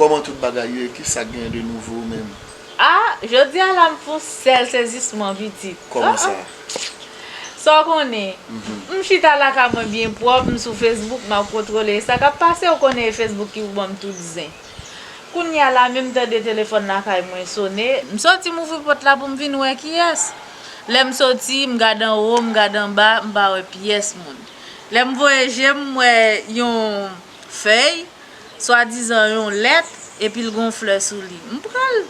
Koman tout bagay ye ki sak gen de nouvo ou menm. Ah jodi a la m fon sèl sezisman pitit. Koman sa? Sa w konnen M chita lakay mwen byen pwòp m sou Facebook map kontwole sa kap pase ou konnen e Facebook ki pou banm tout zen. Kounya la menm tande telefòn lakay mwen sone. M soti m ouvri pòt la pou m vin wè kiyès. Lè m soti, m gad anwo, m gad anba, m pa wè pyès moun. Lè m voye je m, m wè yon fèy, swadizan yon lèt, epi l gen yon flè sou li. M pran l.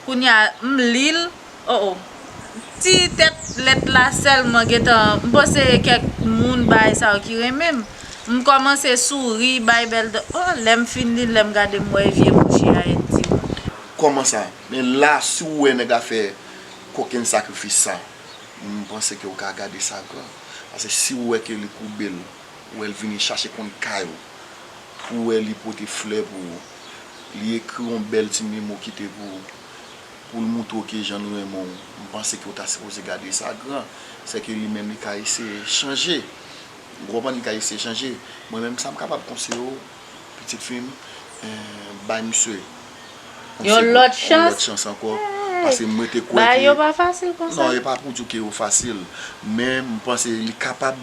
Kounya m li l. Oh oh ti tèt lèt la sèlman gentan m panse kèk moun bay sa yo ki renmen m m kòmanse souri bay bèl dan oh lèm fin li lèm gade m wè e vye mouche a et di m. Kòman sa men la si w wè nèg la fè kokenn sakrifis sa m panse ke w ka gade sa gran pase si w wè ke li koube l ou wè l vini chache konn kay ou pou wè li pote flè pou ou li ekri yon bèl ti memo kite pou ou. Pou l moutre w ke jan l renmen w, m panse ke w ta sipoze gade sa gran. Se ke li menm li ka eseye chanje. Ou konprann? Li ka eseye chanje. Mwen menm sa m kapab konseye w, pitit fi m, bay misye yon segonn, yon lòt chans ankò. Paske mwen te kwè ke. Non, e pa pou di w ke yo fasil. Men, m panse li kapab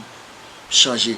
chanje.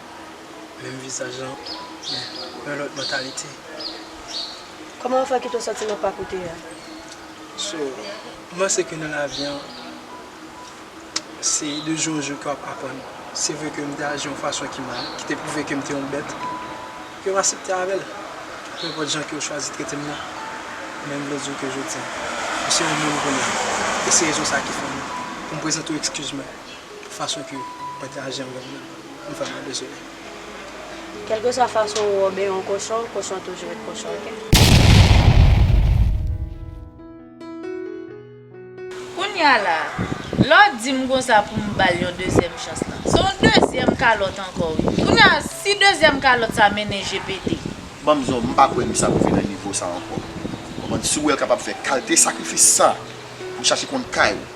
Menm vizaj lan, men yon lòt mantalite. Kòman ou fè kite w sòti nan pa koute a? So, m panse ke nan lavi an, se de jou an jou ke w ap aprann. Se vre ke m te aji yon fason ki mal, ki te pwouve ke m te yon bèt, yo pa asepte avè l. Penpòt jan ke yo chwazi trete m nan. Men m vle di w ke jodi an, m se yon moun kounye a. E se rezon sa ki fè m, pou m prezante w ekskiz mwen, Fason ke pati a janm vini nan yon fanm nan bezwen. Kèlkeswa fason ou obe yon kochon, kochon toujou ret kochon ok. Kounya la, lè w di m konsa pou m ba l yon dezyèm chans lan. Se yon dezyèm kalòt ankò wi. Kounya si dezyèm kalòt sa mennen je pete. Ban m zo, m pa kwè misye ap rive nan nivo sa ankò. Konprann? Si w wè l kapab fè kalte sakrifis sa pou l chache konn kay ou.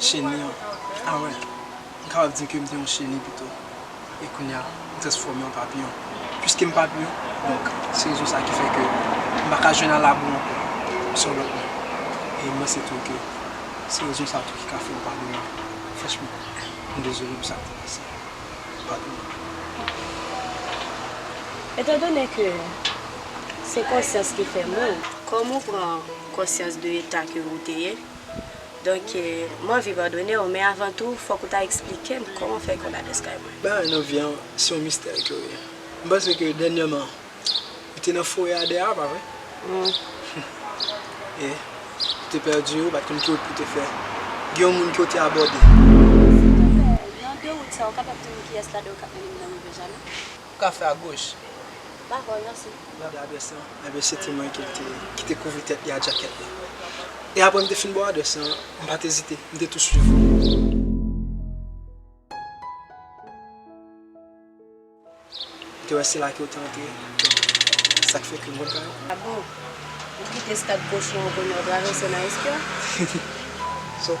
Cheni an, a wè, m kapab di ke m te yon cheni pito, e kounye a, m transfòme an papiyon. Piske m papiyon, donk, se rezon sa ki fè ke m pa ka jwenn alabri ankò, m se yon lòt moun. E m panse tou ke se rezon sa tou ki ka fè m pa renmen l. Franchman, m dezole pou sa k te pase a. Padon m. Etandone ke se konsyans ki fè moun, kòm ou pran konsyans de eta ke ou te ye, Donk, m anvi padone w, men avan tou, fòk ou ta eksplike m kòman w fè konn adrès kay mwen. Bagay nan vi a, se yon mistè ke w ye. M panse ke dènyèman, ou te nan forè a dèyè a, pa vre? E, ou te pèdi yo, ou pa t konn ki wout pou w te fè. Gen yon moun ke w te abòde. Tonton Pè, nan de wout sa a, ou kapab di m kiyès ladan yo k ap mennen m nan rivyè Jaden? ou ka fè a goch. Ba bò yon se. Gade adrès lan, enben se ti mwen ki te kouvri tèt li a djakèt la. E apre m te fin ba w adrès lan, m pa t ezite, m te tou swiv ou. M te wè se la ke ou te antre, se sa k fè ke m konn kay ou. A bon? Ou kite stad Kochon an pou nou travèse nan Espyon? Sa w.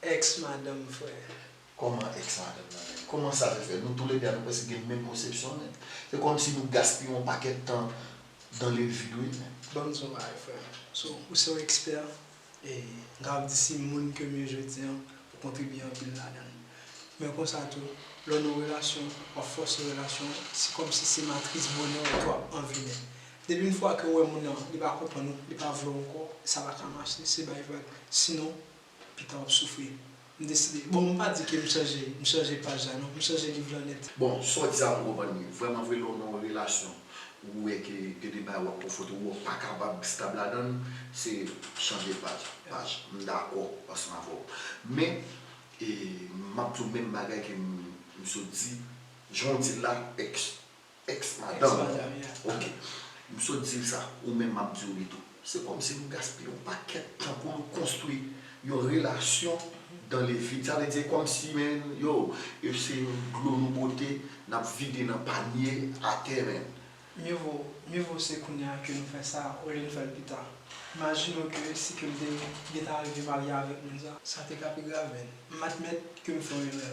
Ex madanm frè. Kòman ex madanm nan menm? Kòman sa te fè? Nou tou le 2 a nou prèske gen menm konsepsyon menm. Se kòm si nou gaspiye yon pakèt tan dans le vide wi menm. Banm di yon bagay frè. So ou se yon ekspè e m kapab di si moun kem ye jodi an ou kontribye anpil ladan l. Men konsa tou lè w nan yon relasyon wap fòse relasyon an se kòm si se matris bonè w ke wap anveni. Depi yon fwa ke ou wè moun nan li pa konprann ou, li pa vle w ankò sa pa ka mache se bay vag. Sinon Pita wap soufri. M deside. Bon m pa di ke m chanje m chanje paj la non. M chanje liv lan nèt. Bon, sa w di a m konprann li. Vrèman vre lè w nan yon relasyon ou wè ke gen de bagay wap konfwonte oubyen w pa kapab stab ladan l, se chanje paj. Paj. M dakò ansanm avè w. Men, e map di w menm bagay ke m sot di, jan w di l la, eks. Ex madanm ou ok. M sot di l sa, ou menm m ap di w li tou. Se kòmsi nou gaspiye yon pakèt tan pou nou konstwi yon relasyon dan le vid. Sa vle di e kòmsi menn yo, e se yon dlo nou pote, n ap vide nan panye atè menn. Mye vo, mye vo se kounye a ke nou fè sa olye nou fè l pita. Imajine w ke si ke m te gentan rive marye avèk moun sa. Sa te ka pi grav menn. M admèt ke m fè yon erè.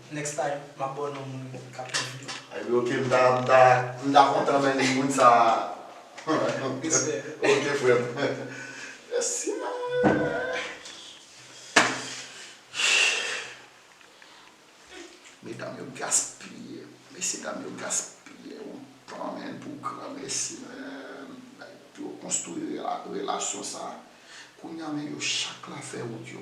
Next time map baw non moun kap tann video. Ebyen ok m ta m ta m ta kontan men moun sa Respect. Ok frem Mèsi Mèsi Medam yo gaspiye Mesye dam yo gaspiye yon tan men pou gran mèsi menm Nèg pou yo konstwi relasyon sa Kounya men yo chak la fè wout yo.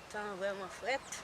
Tan an vreman fret.